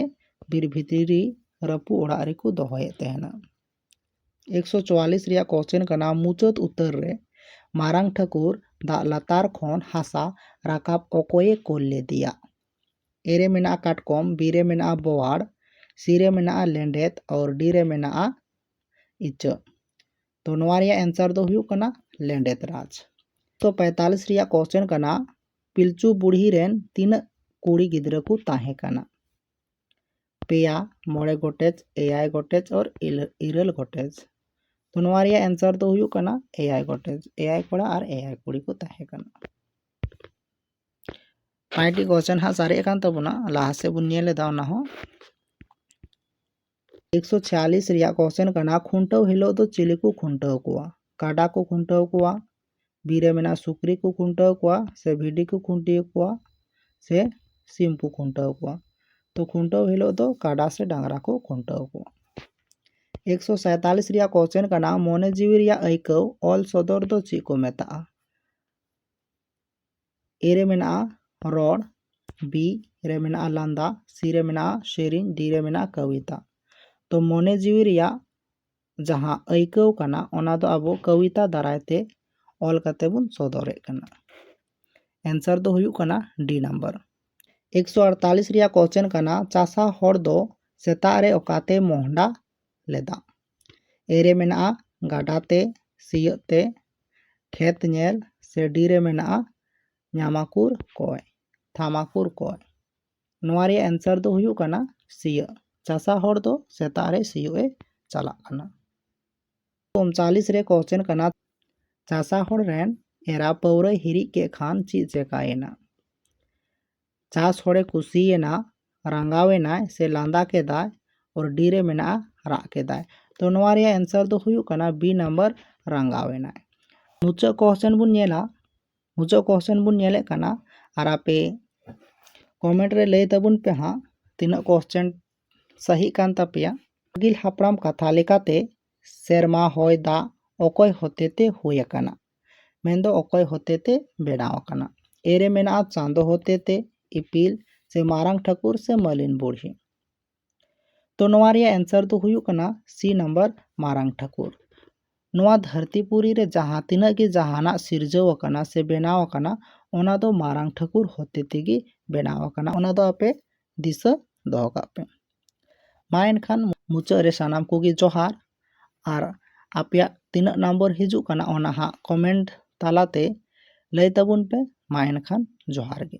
ᱵᱤᱨ ᱵᱷᱤᱛᱨᱤ ᱨᱮ ᱨᱟᱹᱯᱩᱫ ᱚᱲᱟᱜ ᱨᱮᱠᱚ ᱫᱚᱦᱚᱭᱮᱫ ᱛᱟᱦᱮᱱᱟ ᱮᱠᱥᱚ ᱪᱩᱣᱟᱞᱞᱤᱥ ᱨᱮᱭᱟᱜ ᱠᱚᱥᱪᱮᱱ ᱠᱟᱱᱟ ᱢᱩᱪᱟᱹᱫ ᱩᱛᱟᱹᱨ ᱨᱮ ᱢᱟᱨᱟᱝ ᱴᱷᱟᱹᱠᱩᱨ ᱫᱟᱜ ᱞᱟᱛᱟᱨ ᱠᱷᱚᱱ ᱦᱟᱥᱟ ᱨᱟᱠᱟᱵ ᱚᱠᱚᱭᱮ ᱠᱳᱞ ᱞᱮᱫᱮᱭᱟ ᱮ ᱨᱮ ᱢᱮᱱᱟᱜᱼᱟ ᱠᱟᱴᱠᱚᱢ ᱵᱤ ᱨᱮ ᱢᱮᱱᱟᱜᱼᱟ ᱵᱳᱣᱟᱲ ᱥᱤ ᱨᱮ ᱢᱮᱱᱟᱜᱼᱟ ᱞᱮᱸᱰᱮᱛ ᱟᱨ ᱰᱤ ᱨᱮ ᱢᱮᱱᱟᱜᱼᱟ ᱤᱪᱟᱹᱜ ᱛᱚ ᱱᱚᱣᱟ ᱨᱮᱭᱟᱜ ᱮᱱᱥᱟᱨ ᱫᱚ ᱦᱩᱭᱩᱜ ᱠᱟᱱᱟ ᱞᱮᱸᱰᱮᱛ ᱨᱟᱡᱽ ᱛᱚ ᱯᱮᱸᱛᱟᱞᱤᱥ ᱨᱮᱭᱟᱜ ᱠᱚᱥᱪᱮᱱ ᱠᱟᱱᱟ ᱯᱤᱞᱪᱩ ᱵᱩᱲᱦᱤ ᱨᱮᱱ ᱛᱤᱱᱟᱹᱜ ᱠᱩᱲᱤ ᱜᱤᱫᱽᱨᱟᱹ ᱠᱚ ᱛᱟᱦᱮᱸ ᱠᱟᱱᱟ ᱯᱮᱭᱟ ᱢᱚᱬᱮ ᱜᱚᱴᱮᱡ ᱮᱭᱟᱭ ᱜᱚᱴᱮᱡ ᱚᱨ ᱤᱨᱟᱹᱞ ᱜᱚᱴᱮᱡ ᱛᱚ ᱱᱚᱣᱟ ᱨᱮᱭᱟᱜ ᱮᱱᱥᱟᱨ ᱫᱚ ᱦᱩᱭᱩᱜ ᱠᱟᱱᱟ ᱮᱭᱟᱭ ᱜᱚᱴᱮᱡ ᱮᱭᱟᱭ ᱠᱚᱲᱟ ᱟᱨ ᱮᱭᱟᱭ ᱠᱩᱲᱤ ᱠᱚ ᱛᱟᱦᱮᱸ ᱠᱟᱱᱟ ᱯᱟᱸᱪᱴᱤ ᱠᱚᱥᱪᱮᱱ ᱦᱟᱸᱜ ᱥᱟᱨᱮᱡ ᱟᱠᱟᱱ ᱛᱟᱵᱚᱱᱟ ᱞᱟᱦᱟ ᱥᱮᱫ ᱵᱚᱱ ᱧᱮᱞ ᱮᱫᱟ ᱚᱱᱟ ᱦᱚᱸ ᱮᱠᱥᱚ ᱪᱷᱤᱭᱟᱞᱤᱥ ᱨᱮᱭᱟᱜ ᱠᱚᱥᱪᱮᱱ ᱠᱟᱱᱟ ᱠᱷᱩᱱᱴᱟᱹᱣ ᱦᱤᱞᱳᱜ ᱫᱚ ᱪᱤᱞᱤ ᱠᱚ ᱠᱷᱩᱱᱴᱟᱹᱣ ᱠᱚᱣᱟ ᱠᱟᱰᱟ ᱠᱚ ᱠᱷᱩᱱᱴᱟᱹᱣ ᱠᱚᱣᱟ ᱵᱤᱨ ᱨᱮ ᱢᱮᱱᱟᱜ ᱥᱩᱠᱨᱤ ᱠᱚ ᱠᱷᱩᱱᱴᱟᱹᱣ ᱠᱚᱣᱟ ᱥᱮ ᱵᱷᱤᱰᱤ ᱠᱚ ᱠᱷᱩᱱᱴᱤ ᱠᱚᱣᱟ ᱥᱮ ᱥᱤᱢ ᱠᱚ ᱠᱷᱩᱱᱴᱟᱹᱣ ᱠᱚᱣᱟ ᱛᱚ ᱠᱷᱩᱱᱴᱟᱹᱣ ᱦᱤᱞᱳᱜ ᱫᱚ ᱠᱟᱰᱟ ᱥᱮ ᱰᱟᱝᱨᱟ ᱠᱚ ᱠᱷᱩᱱᱴᱟᱹᱣ ᱠᱚᱣᱟ ᱮᱠᱥᱚ ᱥᱟᱭᱛᱟᱞᱤᱥ ᱨᱮᱭᱟᱜ ᱠᱚᱥᱪᱮᱱ ᱠᱟᱱᱟ ᱢᱚᱱᱮ ᱡᱤᱣᱤ ᱨᱮᱭᱟᱜ ᱟᱹᱭᱠᱟᱹᱣ ᱚᱞ ᱥᱚᱫᱚᱨ ᱫᱚ ᱪᱮᱫ ᱠᱚ ᱢᱮᱛᱟᱜᱼᱟ ᱮ ᱨᱮ ᱢᱮᱱᱟᱜᱼᱟ ᱨᱚᱲ ᱵᱤ ᱨᱮ ᱢᱮᱱᱟᱜᱼᱟ ᱞᱟᱸᱫᱟ ᱥᱤ ᱨᱮ ᱢᱮᱱᱟᱜᱼᱟ ᱥᱮᱨᱮᱧ ᱰᱤ ᱨᱮ ᱢᱮᱱᱟᱜᱼᱟ ᱠᱚᱵᱤᱛᱟ ᱛᱚ ᱢᱚᱱᱮ ᱡᱤᱣᱤ ᱨᱮᱭᱟᱜ ᱡᱟᱦᱟᱸ ᱟᱹᱭᱠᱟᱹᱣ ᱠᱟᱱᱟ ᱚᱱᱟ ᱫᱚ ᱟᱵᱚ ᱠᱚᱵᱤᱛᱟ ᱫᱟᱨᱟᱭ ᱛᱮ ᱚᱞ ᱠᱟᱛᱮ ᱵᱚᱱ ᱥᱚᱫᱚᱨᱮᱫ ᱠᱟᱱᱟ ᱮᱱᱥᱟᱨ ᱫᱚ ᱦᱩᱭᱩᱜ ᱠᱟᱱᱟ ᱰᱤ ᱱᱟᱢᱵᱟᱨ ᱮᱠᱥᱚ ᱟᱴᱛᱟᱞᱤᱥ ᱨᱮᱭᱟᱜ ᱠᱚᱥᱪᱮᱱ ᱠᱟᱱᱟ ᱪᱟᱥᱟ ᱦᱚᱲ ᱫᱚ ᱥᱮᱛᱟᱜ ᱨᱮ ᱚᱠᱟᱛᱮ ᱢᱚᱦᱰᱟ ᱞᱮᱫᱟ ᱮ ᱨᱮ ᱢᱮᱱᱟᱜᱼᱟ ᱜᱟᱰᱟ ᱛᱮ ᱥᱤᱭᱳᱜ ᱛᱮ ᱠᱷᱮᱛ ᱧᱮᱞ ᱥᱮ ᱰᱤ ᱨᱮ ᱢᱮᱱᱟᱜᱼᱟ ᱧᱟᱢᱟᱠᱩᱨ ᱠᱚᱸᱜ ᱛᱷᱟᱢᱟᱠᱩᱨ ᱠᱚᱸᱜ ᱱᱚᱣᱟ ᱨᱮᱭᱟᱜ ᱮᱱᱥᱟᱨ ᱫᱚ ᱦᱩᱭᱩᱜ ᱠᱟᱱᱟ ᱥᱤᱭᱳᱜ ᱪᱟᱥᱟ ᱦᱚᱲ ᱫᱚ ᱥᱮᱛᱟᱜ ᱨᱮ ᱥᱤᱭᱳᱜ ᱮ ᱪᱟᱞᱟᱜ ᱠᱟᱱᱟ ᱩᱱᱪᱟᱞᱤᱥ ᱨᱮ ᱠᱚᱥᱪᱮᱱ ᱠᱟᱱᱟ ᱪᱟᱥᱟ ᱦᱚᱲ ᱨᱮᱱ ᱮᱨᱟ ᱯᱟᱹᱣᱨᱟᱹᱭ ᱦᱤᱨᱤᱡ ᱠᱮᱫ ᱠᱷᱟᱱ ᱪᱮᱫ ᱪᱮᱠᱟᱭᱮᱱᱟ ᱡᱟᱦᱟᱸ ᱥᱚᱲᱮ ᱠᱩᱥᱤᱭᱮᱱᱟ ᱨᱟᱸᱜᱟᱣ ᱮᱱᱟᱭ ᱥᱮ ᱞᱟᱸᱫᱟ ᱠᱮᱫᱟᱭ ᱚᱨ ᱰᱤ ᱨᱮ ᱢᱮᱱᱟᱜᱼᱟ ᱨᱟᱜ ᱠᱮᱫᱟᱭ ᱛᱚ ᱱᱚᱣᱟ ᱨᱮᱭᱟᱜ ᱮᱱᱥᱟᱨ ᱫᱚ ᱦᱩᱭᱩᱜ ᱠᱟᱱᱟ ᱵᱤ ᱱᱟᱢᱵᱟᱨ ᱨᱟᱸᱜᱟᱣ ᱮᱱᱟᱭ ᱢᱩᱪᱟᱹᱫ ᱠᱚᱥᱪᱮᱱ ᱵᱚᱱ ᱧᱮᱞᱟ ᱢᱩᱪᱟᱹᱫ ᱠᱚᱥᱪᱮᱱ ᱵᱚᱱ ᱧᱮᱞᱮᱫ ᱠᱟᱱᱟ ᱟᱨ ᱟᱯᱮ ᱠᱚᱢᱮᱱᱴ ᱨᱮ ᱞᱟᱹᱭ ᱛᱟᱵᱚᱱ ᱯᱮ ᱦᱟᱸᱜ ᱛᱤᱱᱟᱹᱜ ᱠᱚᱥᱪᱮᱱ ᱥᱟᱹᱦᱤᱜ ᱠᱟᱱ ᱛᱟᱯᱮᱭᱟ ᱟᱹᱜᱤᱞ ᱦᱟᱯᱲᱟᱢ ᱠᱟᱛᱷᱟ ᱞᱮᱠᱟᱛᱮ ᱥᱮᱨᱢᱟ ᱦᱚᱭ ᱫᱟᱜ ᱚᱠᱚᱭ ᱦᱚᱛᱮᱛᱮ ᱦᱩᱭ ᱟᱠᱟᱱᱟ ᱢᱮᱱᱫᱚ ᱚᱠᱚᱭ ᱦᱚᱛᱮᱛᱮ ᱵᱮᱱᱟᱣ ᱟᱠᱟᱱᱟ ᱮ ᱨᱮ ᱢᱮᱱᱟᱜᱼᱟ ᱪᱟᱸᱫᱚ ᱦᱚᱛᱮᱛᱮ ᱤᱯᱤᱞ ᱥᱮ ᱢᱟᱨᱟᱝ ᱴᱷᱟᱹᱠᱩᱨ ᱥᱮ ᱢᱟᱹᱞᱤᱱ ᱵᱩᱲᱦᱤ ᱛᱚ ᱱᱚᱣᱟ ᱨᱮᱭᱟᱜ ᱮᱱᱥᱟᱨ ᱫᱚ ᱦᱩᱭᱩᱜ ᱠᱟᱱᱟ ᱥᱤ ᱱᱟᱢᱵᱟᱨ ᱢᱟᱨᱟᱝ ᱴᱷᱟᱹᱠᱩᱨ ᱱᱚᱣᱟ ᱫᱷᱟᱹᱨᱛᱤ ᱯᱩᱨᱤ ᱨᱮ ᱡᱟᱦᱟᱸ ᱛᱤᱱᱟᱹᱜ ᱜᱮ ᱡᱟᱦᱟᱱᱟᱜ ᱥᱤᱨᱡᱟᱹᱣ ᱟᱠᱟᱱᱟ ᱥᱮ ᱵᱮᱱᱟᱣ ᱟᱠᱟᱱᱟ ᱚᱱᱟ ᱫᱚ ᱢᱟᱨᱟᱝ ᱴᱷᱟᱹᱠᱩᱨ ᱦᱚᱛᱮᱛᱮ ᱜᱮ ᱵᱮᱱᱟᱣ ᱟᱠᱟᱱᱟ ᱚᱱᱟ ᱫᱚ ᱟᱯᱮ ᱫᱤᱥᱟᱹ ᱫᱚᱦᱚ ᱠᱟᱜ ᱯᱮ ᱢᱟ ᱮᱱᱠᱷᱟᱱ ᱢᱩᱪᱟᱹᱫ ᱨᱮ ᱥᱟᱱᱟᱢ ᱠᱚᱜᱮ ᱡᱚᱦᱟᱨ ᱟᱨ ᱟᱯᱮᱭᱟᱜ ᱛᱤᱱᱟᱹᱜ ᱱᱟᱢᱵᱟᱨ ᱦᱤᱡᱩᱜ ᱠᱟᱱᱟ ᱚᱱᱟ ᱦᱟᱸᱜ ᱠᱚᱢᱮᱱᱴ ᱛᱟᱞᱟᱛᱮ ᱞᱟᱹᱭ ᱛᱟᱵᱚᱱ ᱯᱮ ᱢᱟ ᱮᱱᱠᱷᱟᱱ ᱡᱚᱦᱟᱨ ᱜᱮ